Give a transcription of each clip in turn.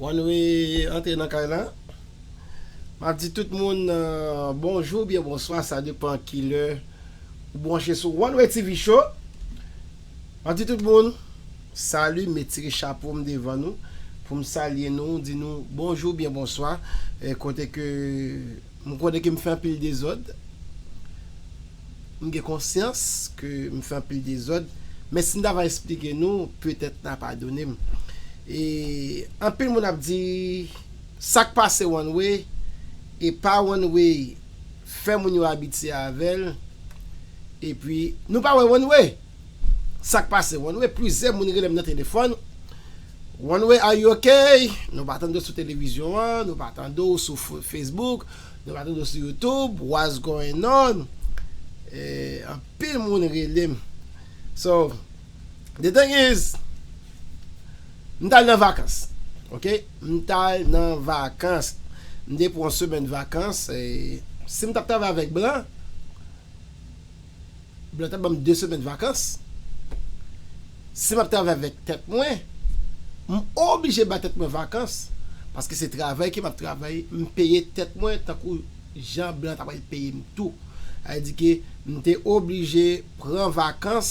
One way antre nan kay la. Map di tout moun bonjou oubyen bonswa sa depan kilè ou branche sou One way TV show. Map di tout moun salut, met tire chapo m devan nou poum salye nou di nou bonjou oubyen bonswa kote ke m konnen ke m fè anpil dezòd. M gen konsyans ke m fè anpil dezòd, men si m ta va esplike nou, petèt n a padone m. E anpil moun ap di, Sa k pase one way e pa one way fè moun yo abitye avè l. Epi, nou pa wè one way? Sa k pase one way? Plizyè moun rele m nan telefòn, One way, are you ok? Nou pa tande w sou televizyon an, nou pa tande w sou Facebook, Nou pa toujou sou youtube what's going on anpil moun relem so the thing is m tal nan vakans ok m tal nan vakans m te pran yon semèn vakans sim tap travay avèk blan Blan ta banm 2 semèn vakans, si map travay avèk tèt mwen, m oblije ba tèt mwen vakans, paske se travay ke map travay, m peye tèt mwen tankou jan blan ta pral peye m tou. Sa vle di ke m te oblije pran vakans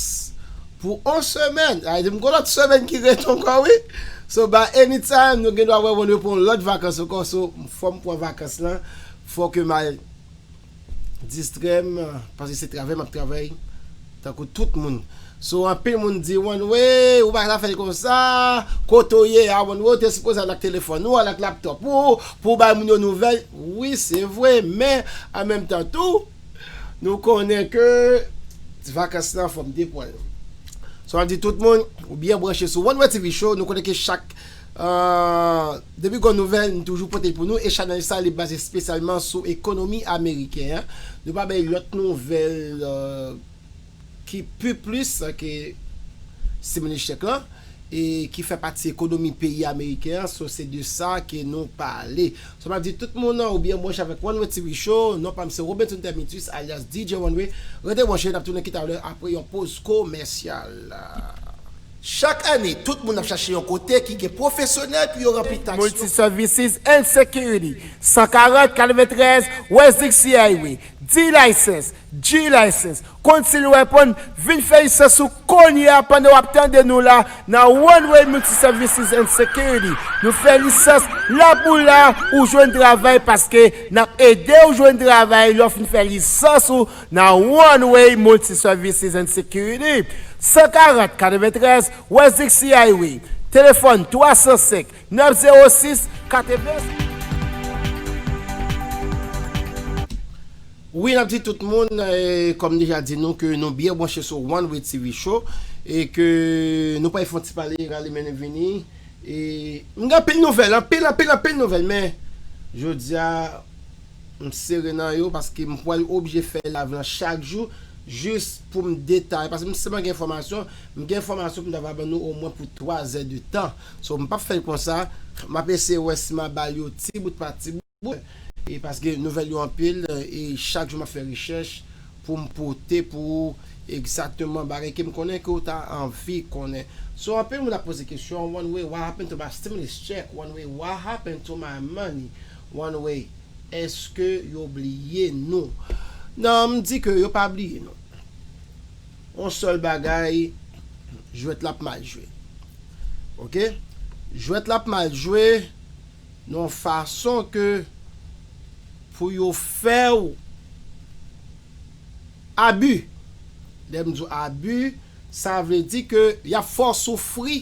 pou on semèn, sa vle di m gon lòt semèn ki ret ankò wi, so by any time nou gen dwa wè wè nou pou on lòt vakans ankò, so fòm pran vakans lan, fò ke m al distrèm paske se travay map travay tankou tout moun so anpil moun di Wannwey ou pa ta fèl konsa kote ou ye a Wannwey ou te sipoze al ak telefòn ou al ak laptòp ou pou ou bay moun yo nouvèl wi se vre men an menm tan tou nou konnen ke vakans lan fòm depwal so map di tout moun ou byen branche sou Wannwey TV show nou konnen ke chak Depi gwo nouvèl n toujou pote pou nou e chanèl sa li baze spesyalman sou ekonomi ameriken an. Nou pa bay lòt nouvèl ki pi plis ke stimulus check lan e ki fè pati ekonomi peyi ameriken an so se de sa ke nou pale. Sa pa di tout moun ou byen branche avèk One Way TV Show non pa m se Robenson Termitus alyas DJ One Way rete branche n ap tounen ki talè apre yon poz komèsyal. Chak ane, tout moun ap chache yon kote ki gen pwofesyonèl pou yo ranpli taks yo. Multi-Services and Security, 140 93 West Dixie Highway, D-License, G-License, Concealed Weapon, vin fè lisans ou kounye a pandan w ap tande nou la nan Runway Multi-Services and Security. Nou fè lisans la pou la ou jwenn travay paske n ap ede ou jwenn travay lè w fin fè lisans ou Nan Runway Multi Services and Security, 140 93 West Dixie Highway, telefòn 305 906 80. Wi nap di tout moun kòm deja di nou ke nou byen branche sou Runway TV show e ke nou pral fon ti pale rale men nou vini e m gen anpil nouvèl anpil anpil anpil nouvèl men jodia M sere nan yo paske m pwal oblije fè live lan chak jou jis poum detay paske m sèlman gen enfòmasyon m gen enfòmasyon poum ta va ban nou omwen pou 3 zè de tan so m pap fèl konsa map eseye wè si ma bal yo ti bout pa ti bout e paske nouvèl yo anpil e chak jou map fè rechèch poum pote pou ou egzakteman bagay kem konnen ke ou ta anvi konnen so anpil moun ap poze kesyon one way what happened to my stimulus check one way what happened to my money One way, eske yo bliye nou? Non, m di ke yo pa bliye nou. Yon sèl bagay, jwèt la ap mal jwe. Ok? Jwèt la ap mal jwe nan yon fason ke pou yo fè w abi. Lè m di w abi, sa vle di ke y ap fè w soufri.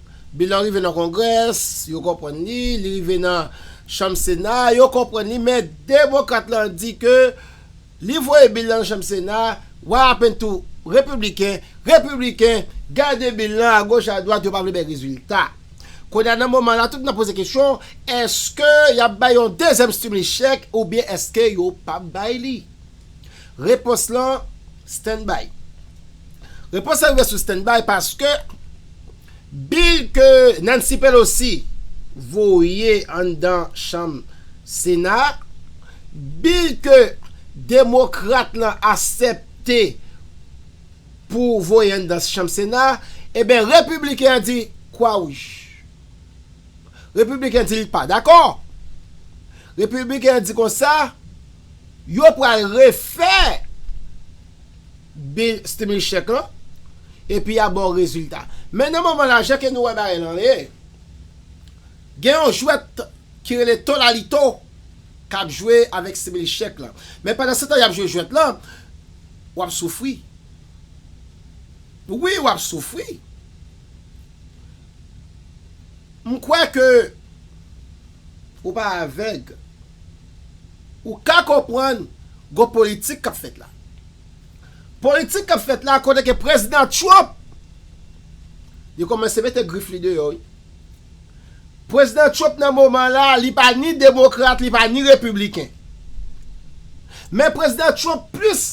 Bilan rive nan Kongrès, yo konprann li, li rive nan Chanm Sena, yo konprann li, men Demokrat lan di ke li voye bil lan nan Chanm Sena, wa apen tou Repibliken, Repibliken gade bil lan agoch adwat yo pa vle bay rezilta. Kounye a nan moman la tout moun ap poze kesyon, èske y ap bay yon dezyèm stimulus check oubyen èske yo p ap bay li? Repons lan stand by. Repons lan rive sou stand by paske bil ke Nancy Pelosi voye anndan chanm sena a, bil ke demokrat lan asèpte pou voye anndan chanm sena a, eben repibliken an di kwa wouj. Repibliken di li pa dakò. Repibliken an di konsa. Yo pral refè bil stimulus check lan epi ya baw rezilta. Men nan moman la jan ke nou wè bagay lan ye, gen yon jwèt ki rele to lalito kap jwe avèk stimulus check lan. Men pandan se tan yap jwe jwèt lan, wap soufri. Wi wap soufri. M kwè ke. Ou pa avèg. Ou ka konprann gon politik k ap fèt la. Politik k ap fèt la kote ke Prezidan Trump, yo kòmanse mete grif li deyò wi. Prezidan Trump nan moman la, li pa ni demokrat, li pa ni repibliken. Men Prezidan Trump plis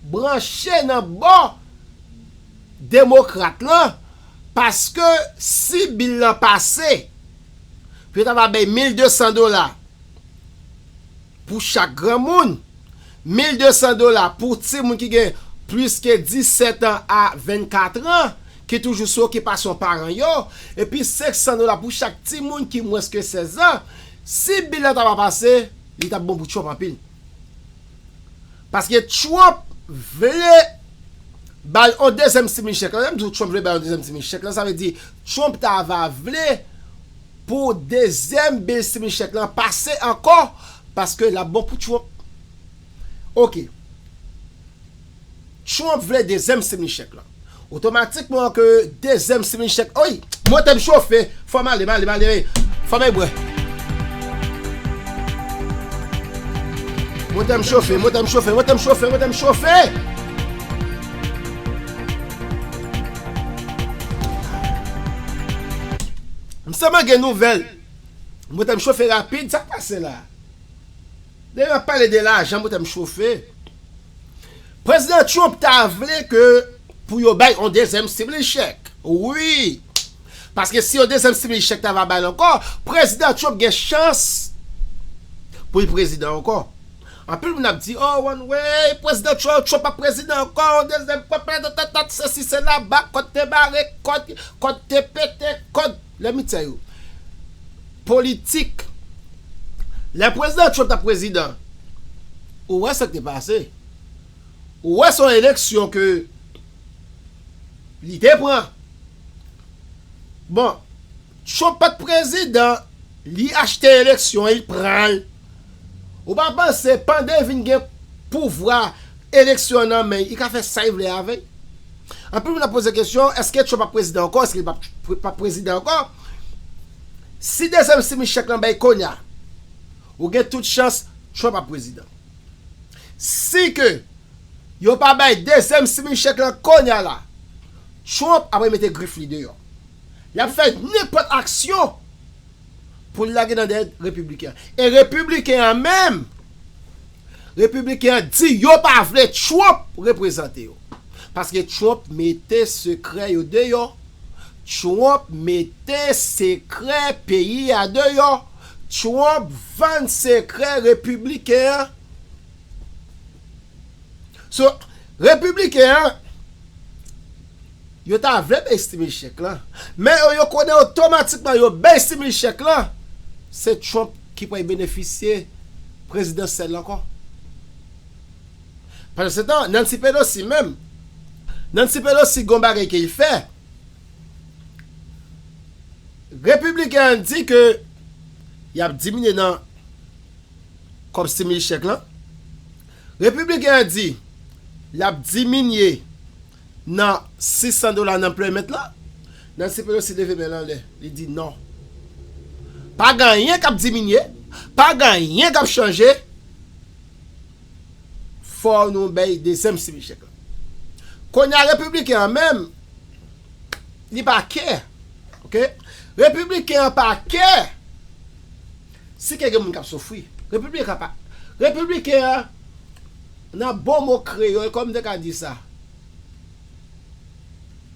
branche nan bò demokrat lan paske si bil lan pase, pou yo ta va bay 1200 dola pou chak granmoun, 1200 dola pou timoun ki gen plis ke 17 an a 24 an, ki toujou sou okipasyon paran yo, epi 500 dola pou chak timoun ki mwens ke 16 an, si bil la ta va pase, li t ap bon pou Trump anpil. Paske Trump vle bay yon dezyèm simin chèk. Lè m di w Trump vle bay yon dezyèm simin chèk lan, sa vle di Trump ta va vle pou dezyèm bil simin chèk lan pase ankò paske l ap bon pou Trump. Ok. Trump vle dezyèm streaming chèk lan. Otomatikman ke dezyèm streaming chèk Oy! Mote m chofe! Fò m ale, m ale, m ale Fò m ale bwè Mote m chofe, mote m chofe, mote m chofe, mote m chofe! M sèlman gen nouvèl Mote m chofe rapid, sa k pase la? Depi n ap pale de lajan, mote m chofe. Prezidan Trump ta vle ke pou yo bay yon dezyèm stimulus check wi, paske si yon dezyèm stimulus check ta va bay l ankò, Prezidan Trump gen chans pou l prezidan ankò. Anpil moun ap di oh one way, Prezidan Trump, Trump ap prezidan ankò, yon dezyèm fwa patatatat, sesi sela, bak kòd te bare, kòd, kòd te pete, kòd, lèmityè yo. Politik. Lè Prezidan Trump t ap prezidan, ou wè sa k te pase. Ou wè se yon eleksyon ke li te pran. Bon, Trump pa t prezidan, li achte eleksyon, li pran l. Ou pa panse pande vin gen pouvwa eleksyon nan men li ka fè sa li vle avè l? Anpil moun ap poze kesyon eske Trump ap prezidan ankò eske li pap prezidan ankò? Si dezyèm simichèk lan bay konya ou gen tout chans Trump ap prezidan. Si ke yo pa bay dezyèm simichèk lan konya la Trump apre mete grif li deyò. Li ap fè nenpòt aksyon. pou l lage nan dèyè Repibliken an. E Repibliken an menm, Repibliken an di yo pa vle Trump reprezante yo. Paske Trump mete sekrè yo deyò, Trump mete sekrè peyi a deyò, Trump vann sekrè Repibliken an. So, Repibliken an, Yo ta vle bay stimil chèk lan, men yo yo konnen otomatikman yo bay stimil chèk lan, se Trump ki pral benefisye prezidansyèl la ankò. Pandansetan, Nancy Pelosi menm, Nancy Pelosi gen yon bagay ke li fè, Repibliken an di ke y ap diminye nan kòb stimil chèk lan, Repibliken an di l ap diminye Nan 600 dola nan playment lan? Nancy Pelosi leve men l anlè, li di non. Pa gen anyen k ap diminye, pa gen anyen k ap chanje, fò nou bay dezyèm sibi chèk la. Kounye a Repibliken an menm, li pa kè. Ok. Repibliken an pa kè si ke gen moun k ap soufri. Repibliken an pa, Repibliken an. Nan bon mo kreyòl, kòman m te ka di sa?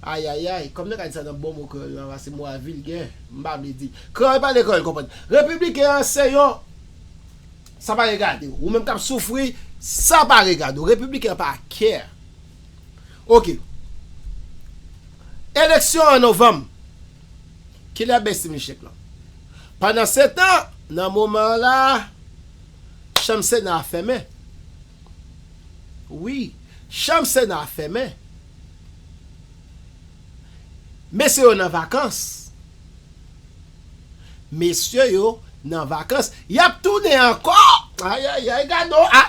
Ayayay, kòman m te ka di sa nan bon mo kreyòl la? Pase mo a vilgè, m pa vle di. Kreyòl pale, kreyòl konprann. Repibliken an se yon Sa pa regade w. Ou menm k ap soufri, sa pa regade w. Repibliken an pa care. Ok. Eleksyon an novanm. Kilè Bestie Michette lan? Pandansetan, nan moman an la a. Chanm sena a fèmen wi Chanm sena a fèmen Mesye yo nan vakans Mesye yo nan vakans Yap tounen ankò Ayayay gadon a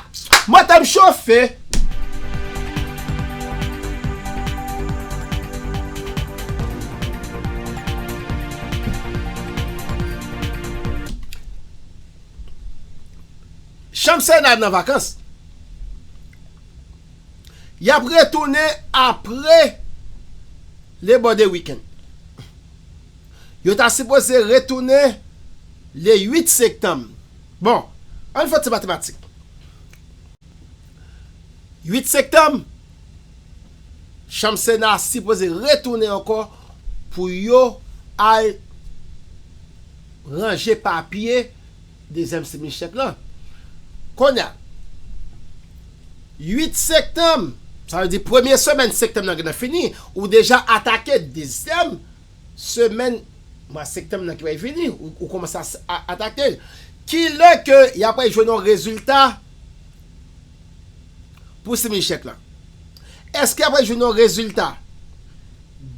Motem chofe. Chanm Sena a nan vakans. Y ap retounen apre Labor Day Weekend. Yo ta sipoze retounen le 8 sektanm. Bon, ann fè ti matematik. 8 sektanm. Chanm sena a sipoze retounen ankò pou yo al ranje papye dezyèm semi chèk lan. Konnya 8 sektanm, sa vle di premye semèn sektanm nan gentan fini, ou deja atake dezyèm semèn mwa sektanm nan ki pral vini, ou kòmanse atake l. Ki lè ke y apral jwenn yon rezilta? pou simin chèk lan. Èske apre jwenn yon rezilta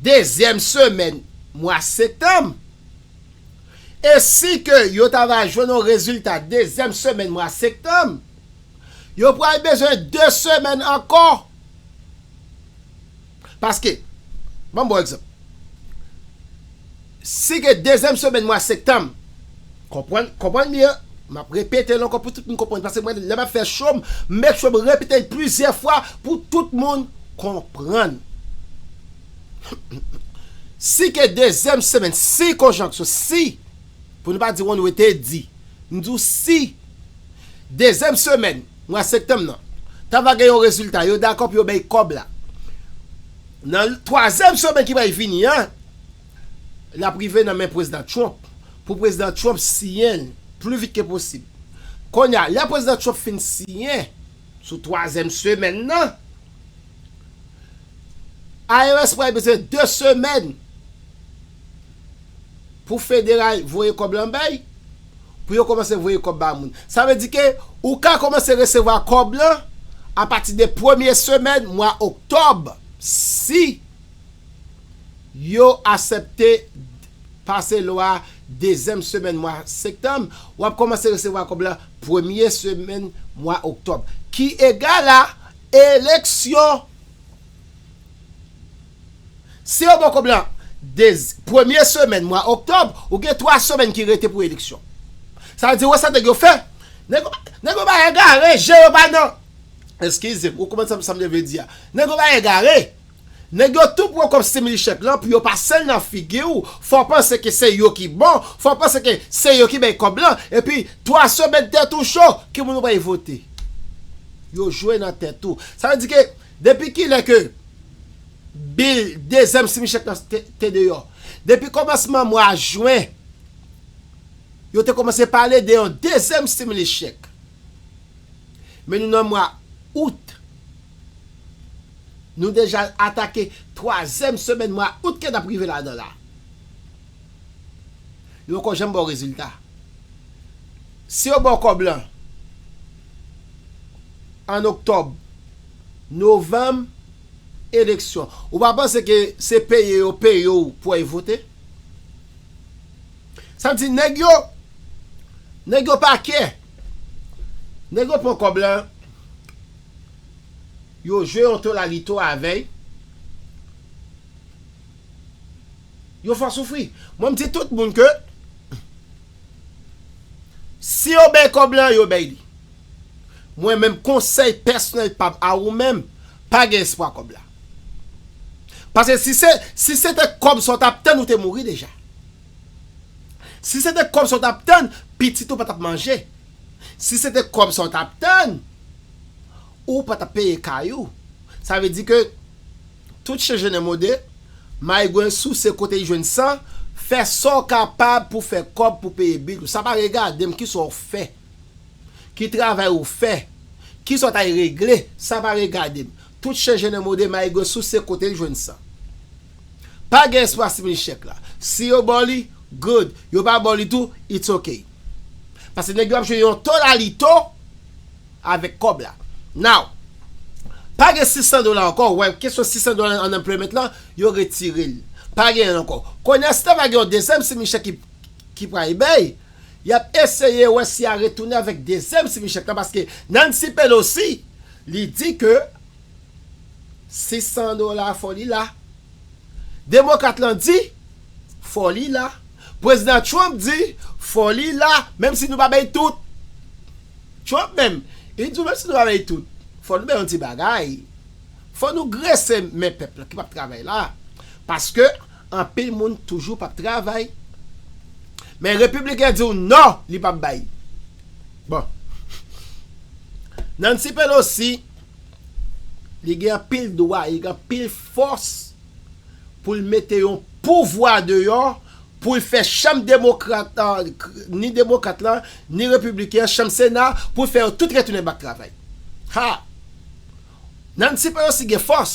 dezyèm semèn mwa sektanm? E si ke yo ta va jwenn yon rezilta dezyèm semèn mwa sektanm, yo pral bezwen 2 semèn ankò Paske, banm bon egzanp. Si gen dezyèm semèn mwa sektanm, konprann, konprann byen, map repetel ankò pou tout moun konprann, paske mwen lè map fè chom, m make sure m repetel plizyè fwa pou tout moun konprann. Si gen dezyèm semèn, si konjanksyon, si, pou nou pa di wonn wete di, m di w si dezyèm semèn, Mwa septanm nan ta va gen yon rezilta yo dakò pou yo bay kòb la nan twazyèm semèn ki pral vini an l ap rive nan men prezidan Trump pou prezidan Trump siyen l pli vit ke posib kounye a lè prezidan Trump fin siyen sou twazyèm semèn nan IRS pral bezwen de semèn pou federal voye kòb la bay. pou yo komanse voye kòb ba moun. Sa vle di ke ou ka komanse resevwa kòb lan a pati de premye semèn mwa oktòb si yo asèpte pase lwa dezyèm semèn mwa sektanm, w ap komanse resevwa kòb lan premye semèn mwa oktòb ki egal a eleksyon. Si yo ba w kòb la dez premye semèn mwa oktòb, ou gen twa semèn ki rete pou eleksyon. Sa vle di wè sa nèg yo fè. Nèg yo nèg yo bay egare, je yo pa nan Eskize m, ou konprann sa m sa m te vle di a. Nèg yo bay egare. Nèg yo tou pran kòb stimili chèk lan pou yo pase l nan figi w, fè w panse ke se yo ki bon, fè w panse ke se yo ki bay kòb lan, epi twa semèn tèt ou cho, ki moun ou bay vote? Yo jwe nan tèt ou. Sa vle di ke Depi kilè ke bil dezyèm simi chèk lan te deyò? Depi kòmansman mwa jwen, yo te kòmanse pale de yon dezyèm stimulus check. Men nou nan mwa Out. Nou deja atake twazyèm semèn mwa Out ke n ap rive ladan l la. Yo poko janm baw rezilta. Si yo baw kòb lan an oktòb, novanm eleksyon ou pa panse ke se peye yo peye w pou w al vote? Sa vle di nèg yo nèg yo pa kè. Nèg yo pran kòb lan yo jwe yon tolalito avèy. Yo fò soufri. Mwen m di tout moun ke si yo bay kòb lan yo bay li. Mwen menm konsèy pèsonèl pam a ou menm pa gen espwa kòb la. Paske si se si se te kòb sa w tap tann ou te mouri deja. Si se te kòb sa w tap tann pitit ou pa tap manje. Si se te kòb sa w tap tann ou pa tap peye kay ou. Sa vle di ke. Tout chen jennen mode, maigwen souse kote li jwenn san, fè sa w kapab pou fè kòb pou peye bil ou. Sa pa regade m ki sa w fè, ki travay ou fè, ki sa w t al regle, sa pa regade m. Tout chen jennen mode, maigwen souse kote li jwenn san. Pa gen espwa simin chèk la. Si yo ba w li, good, yo pa ba w li tou, it's ok. Paske nèg yo ap jwe yon tolalito. avèk kòb la now pa gen 600 dola ankò ou wè kesyon 600 dola unemployment lan yo retirel pa genyen l ankò konnya si ta va gen yon dezyèm semi chèk ki ki pral bay yap eseye wè si ya retounen avèk dezyèm semi chèk lan paske Nancy Pelosi li di ke 600 dola fò li la. Demokrat lan di, Fò li la. Prezidan Trump di, Fò li la, menm si nou pa bay tout. Trump menm, li di nou menm si nou pa bay tout, fò nou bay yon ti bagay. Fò nou grese men pèp la ki p ap travay la. Paske, anpil moun toujou p ap travay. Men Repibliken di w non, li p ap bay. Bon. Nancy Pelosi. Li gen anpil dwa, li gen anpil fòs pou l mete yon pouvwa deyò pou l fè chanm demokrat, ni demokrat la, ni repibliken an, chanm sena, pou l fè yo tout retounen bak travay. Ha! Nancy Pelosi gen fòs!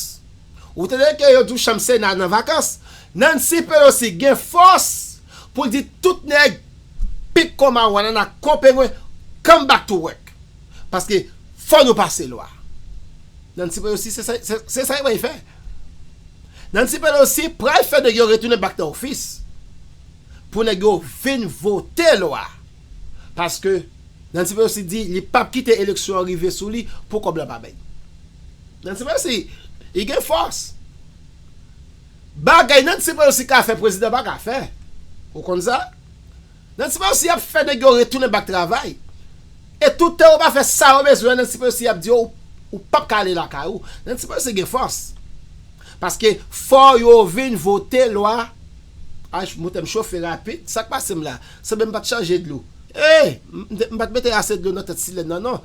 Ou tande ke yo di w chanm sena nan vakans? Nancy Pelosi gen fòs pou l di tout nèg pik kon mawon, anana kon pengwen, come back to work! Paske fò nou pase lwa. Nancy Pelosi se sa li pral fè. Nancy Pelosi pral fè nèg yo retounen back nan ofis pou nèg yo vin vote lwa. Paske Nancy Pelosi di li pap kite eleksyon an rive sou li pou kòb la pa bèk. Nancy Pelosi li gen fòs. Bagay Nancy Pelosi ka fè prezidan pa ka fè. Ou konn sa? Nancy Pelosi ap fè nèg yo retounen bak travay e toutan ou pa fè sa yo bezwen Nancy Pelosi ap di yo ou pap ka ale lakay ou Nancy Pelosi gen fòs paske fò yo vin vote lwa ayy motem chofe rapid sak pasem la sanble mpat chanje dlo eey mpat mete ase dlo nan tèt silèn nan non.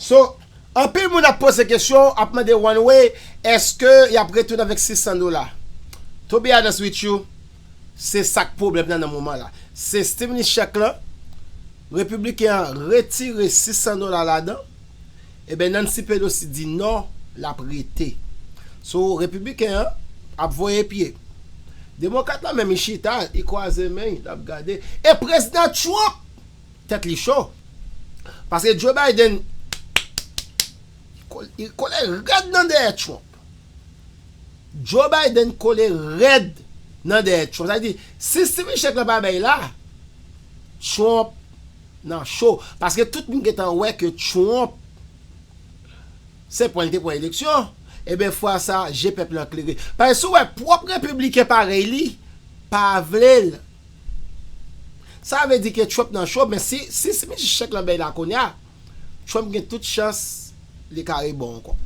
So, anpil moun ap poze kesyon, ap mande one way, eske yap retounen avèk 600 dola? To be honest with you, se sak pwoblèm nan nan moman la. Se stimulus check lan, Repibliken an retire 600 dola ladan, eben Nancy Pelosi di non, lap rete. So, Repibliken an ap voye pye. Demokrat la menm li chita, li kwaze men, lap gade. E Prezidan Trump! Tèt li cho. Paske Joe Biden kole rèd nan dèyè Trump. Joe Biden kole rèd nan dèyè Trump. Sa vle di, si Steven Check lan pa bay la, Trump nan cho. Paske tout moun gentan wè ke Trump se pwen li te pran eleksyon. Eben fwa sa, je pèp lan klere. Paske si w wè pwòp Repibliken parèy li pa vle l. Sa vle di ke Trump nan cho men si si Smith chèk lan bèy la kounya Trump gen tout chans li ka rebon ankò.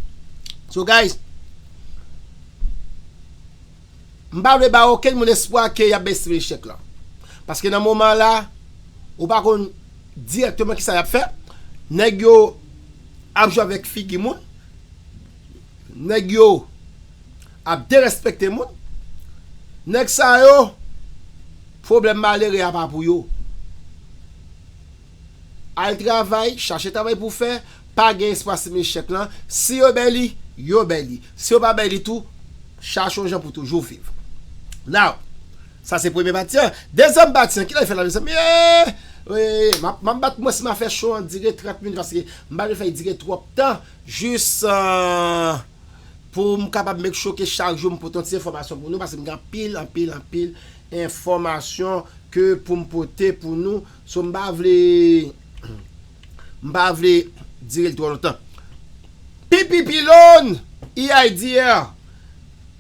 So guys m pa vle bay okenn moun espwa ke yap bèy Smith chèk lan paske nan moman la ou pa konn dirèkteman kisa yap fè nèg yo ap jwe avèk figi moun. Nèg yo ap derespekte moun. Nèg sa yo pwoblèm malere a pa pou yo. Al travay, chache travay pou w fè, pa gen espwa si men chèk lan, si yo bay li, yo bay li. Si yo pa bay li tou, chache yon jan pou toujou viv. Now, sa se premye pati an. Dezyèm pati an, kilè l fè la mezanmi eeh! M ap bat mwen si m a fè show an dire 30 minit paske m pa vle fè l dire twòp tan. Jis poum kapab make sure ke chak jou m pote yon ti enfòmasyon pou nou paske m gen anpil anpil anpil enfòmasyon ke poum pote pou nou so m pa vle m pa vle direl twò lontan. Pi pi pi lon! EIDR.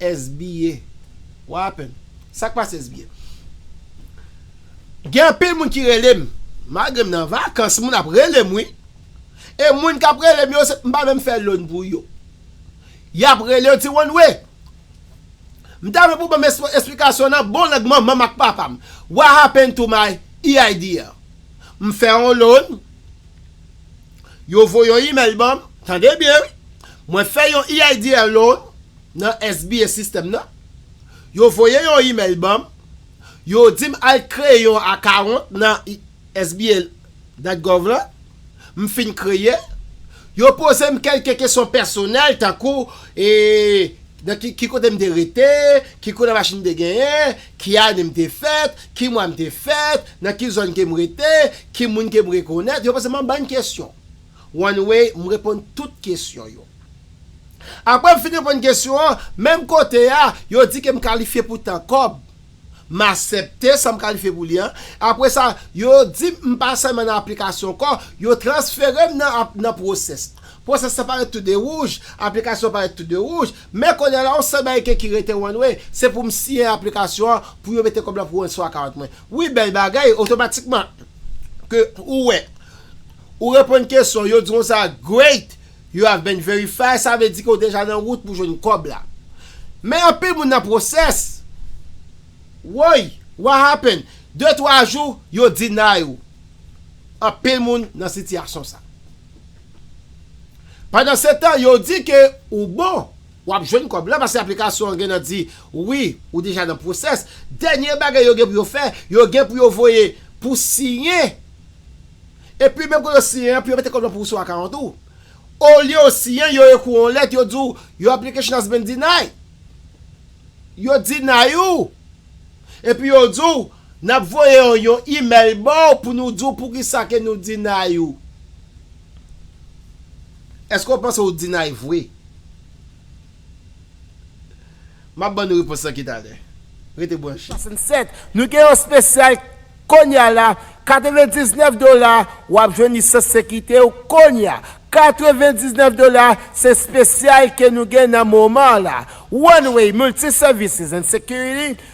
SBA what happened sak pase SBA. Gen anpil moun ki relem malgrem nan vakans moun ap relem wi e moun kap relem yo se mpa menm fè loan pou yo yap rele yo ti one way mta renmen pou banm esplikasyon nan bon lang manmanm ak papam what happened to my EIDL mfè yon loan Yo voye yon email ban m, tande byen wi, mwen fè yon EIDL loan nan SBA system nan, yo voye yon email ban m, yo di m al kreye yon account nan SBA dat gov lan, m fin kreye l, yo poze m kelke kesyon pèsonèl tankou e nan ki kote m te rete, ki koulè machin m te genyen, Ki ane m te fèt? Ki mwa m te fèt? Nan ki zòn ke m rete? Ki moun ke m rekonèt? Yo poze m anbann kesyon. One Way, m reponn tout kesyon yo. Apre m fin reponn kesyon an, menm kote a, yo di ke m kalifye pou tan kòb. M asepte sa m kalifye pou li an. Apre sa, yo di m m pa sèlman nan aplikasyon ankò, yo transfere m nan nan pwosès. Pwosès la parèt tou de wouj, aplikasyon parèt tou de wouj. Men kounye a la yon sèl bagay ke ki rete one way, se pou m siyen aplikasyon an pou yo mete kòb la pou one sou account mwen. Wi bèl bagay, otomatikman ke ou wè ou reponn kesyon, yo di w konsa great, you have been verified, sa vle di ke ou deja nan wout pou jwenn kòb la. Men anpil moun nan process, woy, what happened, de twa jou yo deny ou. Anpil moun nan sitiyasyon sa. Pandan se tan yo di ke ou bon, wap jwenn kòb la paske aplikasyon an gen nan di wi ou deja nan pwosès, dènye bagay yo gen pou yo fè, yo gen pou yo voye pou siyen, epi menm kote ou siyen an pou yo mete kòb la pou ou sou akawont ou. Olye ou siyen, yo ekri w yon lèt, yo di w your application has been denied. Yo deny ou, epi yo di w Nap voye w yon email baw pou nou di w poukisa ke nou deny ou. Eske w panse w deny vre? Map ban nou repons lan ki talè. Rete branche. 67 nou gen yon spesyal Konya la 99 dola wap jwenn lisans sekite w konya 99 dola se spesyal ke nou gen nan moman la One Way Multi Services and Security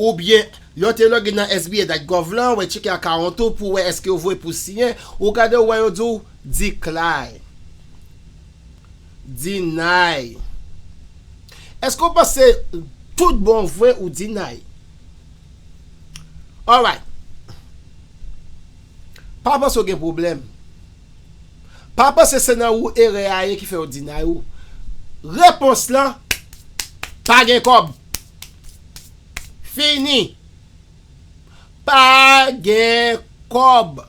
Oubyen, yon te loge nan sba dat gov lan, wè tcheke akawont ou pou wè èske yo voye pou siyen, ou gade ou wè yo di w Decline. Deny. Èske ou panse tout bon vre ou deny? Alright. Pa panse ou gen pwoblèm. Pa panse se nan ou erè a ye ki fè yo deny ou. Repons lan, pa gen kòb. fini pa gen kòb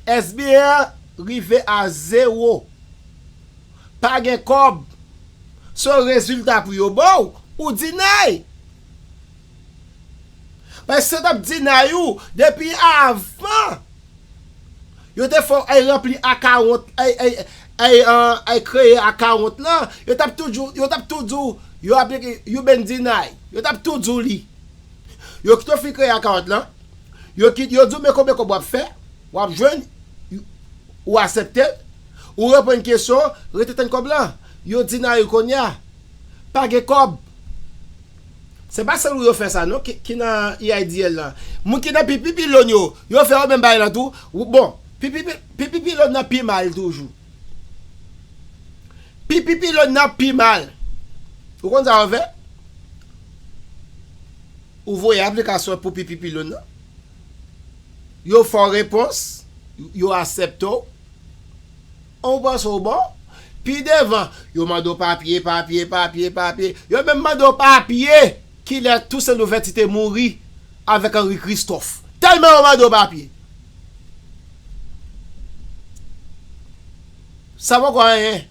sbr rive a zewo pa gen kòb so rezilta pou yo baw ou deny paske sa tap deny ou depi avan. Yo te fè w ay ranpli akawont ay kreye akawont lan yo tap toujou yo tap tou di w yo ap you been deny yo tap tou di w li yo kite w fin kreye akawont lan yo kit yo di w men konbyen kòb wap fè wap jwenn ou asepte l ou reponn kesyon rete tann kòb lan yo deny ou kounye a. pa gen kòb. Se pa sèl ou yo fè sa non ki nan EIDL lan. Moun ki nan pi pi pilon yo, yo fè yo menm bagay lan tou. Bon, pi pi pi pi pilon nan pi mal toujou. Pi pi pilon nan pi mal. Ou konn sa yo fè? Ou voye aplikasyon pou pi pi pilon nan. Yo fè w repons, yo asèpte w. Ou panse w bon? Pi devan, yo mande w papye, papye, papye, papye. Yo menm mande w papye kilè Tousen Louvèti te mouri avèk Anri Kristòf. Tèlman yo mande w papye. Sa poko anyen.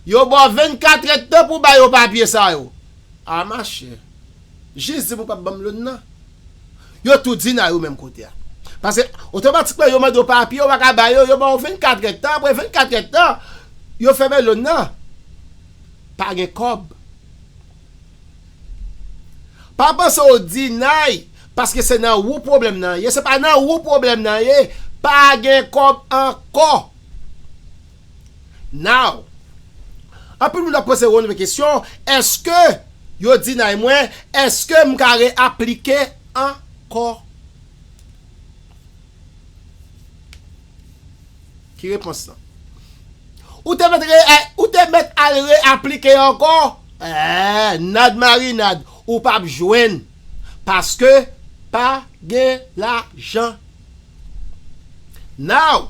Yo ba w 24 èdtan pou w bay yo papye sa yo. A machè, Jis di pou pap banm loun nan. Yo tou di nan yo menm kote a. Pase otomatikman yo mande w papye ou paka ba yo, yo ba w 24 rèd tan apre 24 rèd tan yo fèmen loun nan. Pa gen kòb. Pa panse w dinay paske se nan wou pwoblèm nan ye, se pa nan wou pwoblèm nan ye, pa gen kòb ankò. Now, anpil moun ap poze Ronlve kesyon, eske yo deny mwen, eske m ka re aplike ankò? Ki repons lan? Ou te mèt re, ou te mèt al re aplike ankò? Eeh, nad marinad, ou p ap jwenn, paske pa gen lajan. Now.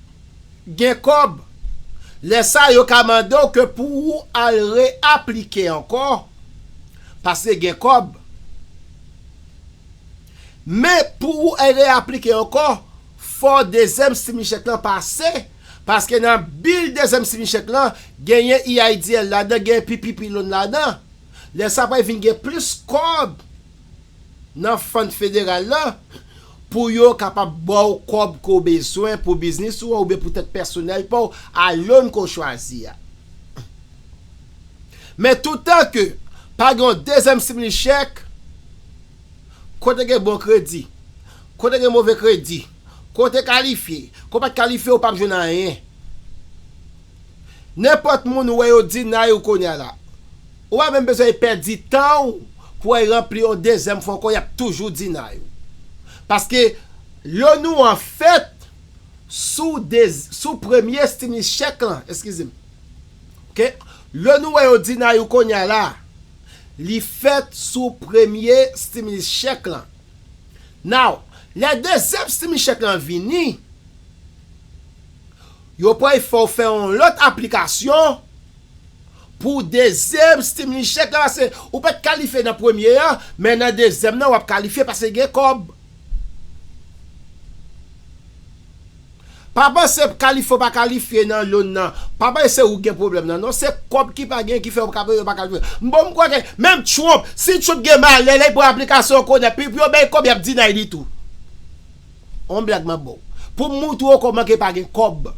gen kòb, lè sa yo ka mande w ke pou ou al re aplike ankò paske gen kòb. Men pou ou al re aplike ankò fò dezyèm stimli chèk lan pase paske nan bil dezyèm stimli chèk lan genyen EIDL ladan, genyen PPP loan ladan. Lè sa pral vin gen plis kòb nan fund federal lan. Pou yo kapab ba w kòb ke w bezwen pou biznis ou an oubyen pou tèt pèsonèl pa w a lon ke w chwazi a. Men toutan ke pa gen yon dezyèm simili chèk, kote gen bon kredi, kote gen move kredi, ke w te kalifye, ke w pa t kalifye ou p ap jwenn anyen. Nenpòt moun ou wè yo deny ou kounya la. Ou pa menm bezwen pèdi tan ou pou al ranpli yon dezyèm fwa ankò yap toujou deny ou. Paske L'ONU an fèt sou dez sou premye stimulus check lan, eskize m. Ok. L'ONU ou wè yo deny ou kounya la, li fèt sou premye stimulus check lan. Now, lè dezyèm stimulus check lan vini, Yo pral fè w fè yon lòt aplikasyon pou dezyèm stimli chèk la pase ou pat kalifye nan premye an men nan dezyèm nan wap kalifye pase gen kòb. Pa panse kalifye ou pa kalifye nan loan nan pa panse se ou ki gen pwoblèm nan non se kòb ki pa gen ki fè ou pa kalifye bon m kwè ke menm Trump si Trump gen malè lè li pran aplikasyon kounye pi pou yo bay kòb yap deny li tou. On blag map baw poum moutre w koman ke pa gen kob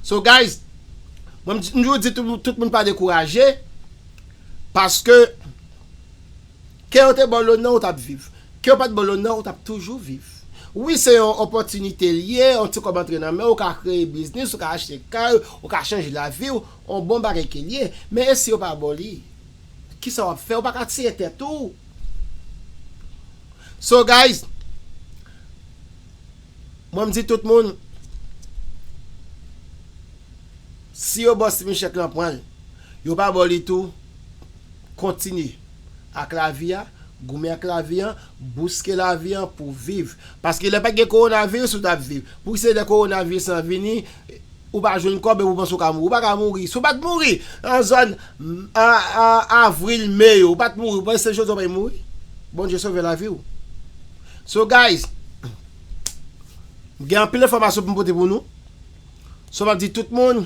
so guys mwen mtjou di tout moun pa dekouraje paske ke yo te baw lonè ou tap viv ke yo pat baw lonè ou tap toujou viv wi se yon opotinite li ye yon ti kob antre nan menw ou ka kreye biznis ou ka achte kay ou ka chanje laviw on bon bagay ke li ye men e si yo pa baw li. Kisa wap fè ou paka tire tèt ou So guys Mwen mdi tout moun Si yo baw Steven chèk lan pranl Yo pa baw li tou Kontinye ak lavi a Goumen ak lavi an Bouske lavi an pou viv. Paske lè pat gen coronavirus ou tap viv. Pouki se lè coronavirus lan vini ou pa jwenn kòb epi ou panse ou ka mouri. Ou paka mouri. Si ou pat mouri nan zòn avril, mai yo ou pat mouri ou panse se jodi a ou pral mouri? Bondye sove lavi ou. So guys m gen anpil enfòmasyon pou m pote pou nou. So map di tout moun.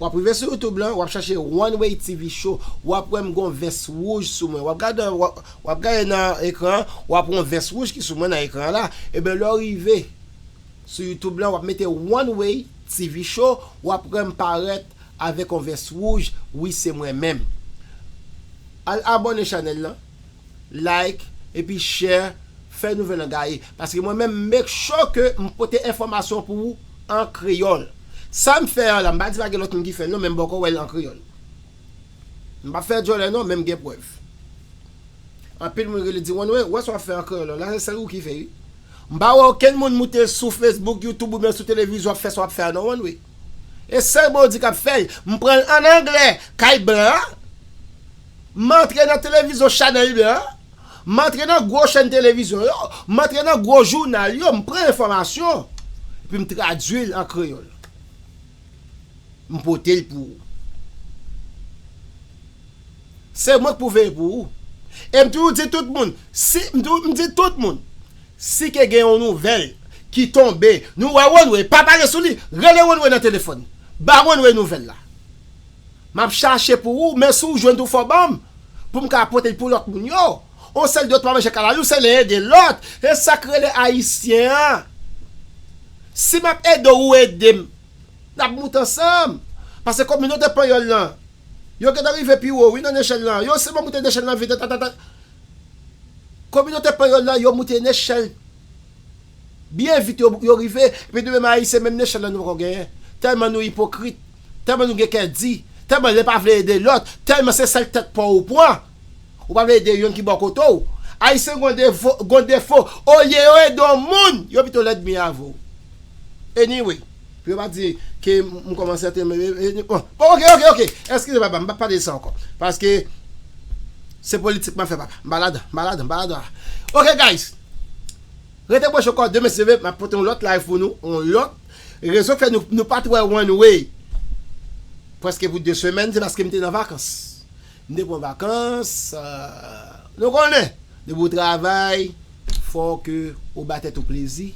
Wap rive sou youtube lan wap chache one way TV show wap wè m gon vès wouj sou mwen wap gade wap gade nan ekran an wap wè yon vès wouj ki sou mwen nan ekran an la ebyen lè w rive sou youtube lan wap mete one way TV show wap wè m parèt avèk yon vès wouj wi se mwen menm al abone chanèl lan. like epi share fè nouvèl lan gaye paske mwen menm make sure ke m pote enfòmasyon pou ou an kreyòl sa m fè an la m pa di pa gen lòt moun ki fè l non men m poko wè l an kreyòl m pap fè djòlè non men m gen prèv anpil moun rele di Wennwe ou wè sa w ap fè an kreyòl lan la se sèl ou ki fè wi m pa wè okenn moun moute sou Facebook YouTube oubyen sou televizyon ap fè sa w ap fè a non Wennwe e sèl Bondy k ap fè l m pran l an anglè kay blan an. M antre nan televizyon Channel Leader an, m antre nan gwo chèn televizyon yo, m antre nan gwo jounal yo, m pran enfòmasyon, epi m tradui l an kreyòl. M pote l pou ou. Se mwen k pou veye pou ou. E m toujou di tout moun, si, m toujou, m di tout moun, si ke gen yon nouvèl ki tonbe, nou wè One Way pa pale sou li, rele One Way nan telefòn, ba One Way nouvèl la. Map chache pou ou men si w jwenn tou fò banm pou m ka pote pou lòt moun yo. On sèl dòt pa manje kala youn sèl nen ede lòt e sak rele ayisyen an si map ede w ou ede m nap moute ansanm pase kominote panyòl lan yo gentan rive pi wo wi nan nechèl lan yo sèlman moute nechèl lan vit atata kominote panyòl lan yo moute nechèl byen vit yo rive epi nou menm ayisyen menm nechèl lan nou poko genyen tèlman nou ipokrit. tèlman nou gen kè di, tèlman lè pa vle ede lòt, tèlman se sèl tèt paw ou pran, ou pa vle ede yonn ki bò kote w. Ayisyen gon defo, gon defo, olye yo ede yon moun, yo pito lèd mi avè w. Anyway, pou yo pa di ke m kòmanse antre m bon ok ok ok, eskize papa m pap pale de sa ankò, paske se politik m ap fè papa, m pa ladan, m pa ladan, m pa ladan a ok guys. Rete branche kò demen si Dye vle map pote yon lòt live pou nou yon lòt rezon fè nou nou pat wè one way prèske pou 2 semèn se paske m te nan vakans m te pran vakans nou konnen depi w travay fòk ke ou ba tèt ou plezi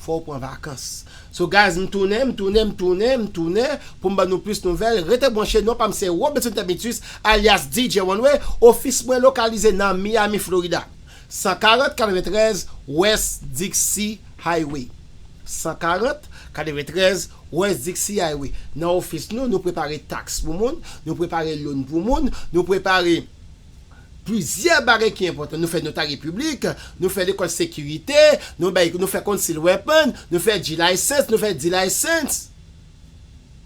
fòw pran vakans so guys m tounen m tounen m tounen m tounen pou m ban nou plis nouvèl rete branche non pa m se Robeson Termitus alyas DJ one way ofis mwen lokalize nan Miami Florida 140 93 West Dixie Highway 140 93 West Dixie Highway Nan ofis nou, nou prepare taks pou moun, nou prepare loan pou moun, nou prepare plizyè bagay ki enpòtan, nou fè notarye piblik, nou fè lekòl sekirite, nou bay, nou fè concealed weapon, nou fè G-license, nou fè D-license.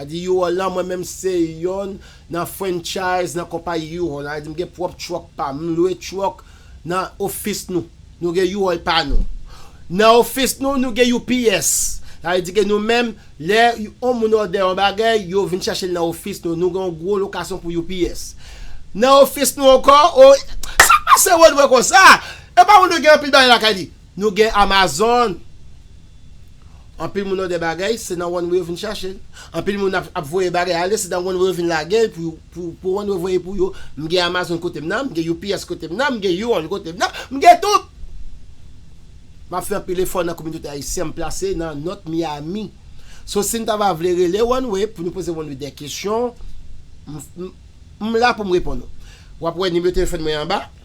Adi U-Haul lan mwen menm se yonn nan franchise nan konpayi U-Haul lan adi m gen pwòp truck pa m m lwe truck nan office nou nou gen U-Haul pa nou nan office nou nou gen UPS sa vle di ke nou menm lè yon moun òdè yon bagay yo vin chache l nan office nou nou gen yon gwo lokasyon pou UPS nan office nou ankò oh sa pase Rodwe konsa epa Rodwe gen anpil bagay lakay li. Nou gen Amazon! Anpil moun òdè bagay, se nan One Way yo vin chache l. Anpil moun ap voye bagay ale, se nan One Way yo vin lage l pou One Way voye pou yo. M gen Amazon kote m nan, m gen UPS kote m nan, m gen U-Haul kote m nan, m gen tout! M ap fè anpil efò nan kominote ayisyen m plase nan North Miami. So si n ta va vle rele One Way pou nou poze One Way dè kesyon, m la pou m reponn ou. W ap wè nimewo telefòn mwen anba.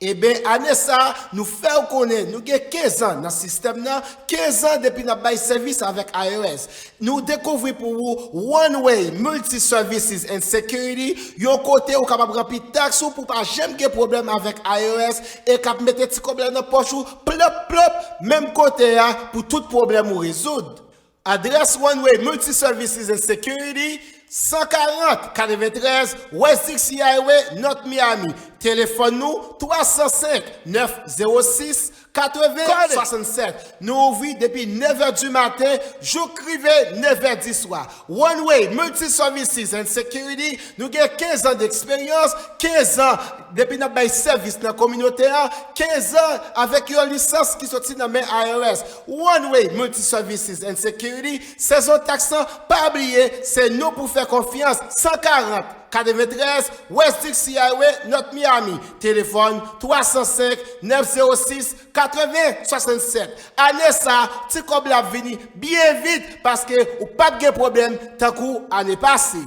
Eben ane sa a nou fè ou konnen nou gen 15 an nan sistèm nan, 15 an depi n ap bay sèvis avèk IRS. Nou dekouvri pou ou One Way Multi Services and Security, yon kote ou kapab ranpli taks ou pou w pa janm gen pwoblèm avèk IRS e k ap mete ti kòb la nan pòch ou plop plop menm kote a pou tout pwoblèm ou rezoud. Adrès One-Way Multi Services and Security, 140, 93 West Dixie Highway, North Miami. Telefòn nou, 305 906 80 67. Nou ouvri depi nevè di maten jouk rive nevè di swa. One-Way Multi Services and Security, nou gen kenzan deksperyans, kenzan depi n ap bay sèvis nan kominote a, kenzan avèk yon lisans ki soti nan men IRS. Runway Multiservices and Security, sezon taks lan, pa bliye, se nou pou fè konfyans, 140, 93 West Dixie Highway, North Miami, telefòn, 305, 906, 80, 67, ane sa a, ti kòb la ap vini byen vit, paske ou pap gen pwoblèm tankou ane pase.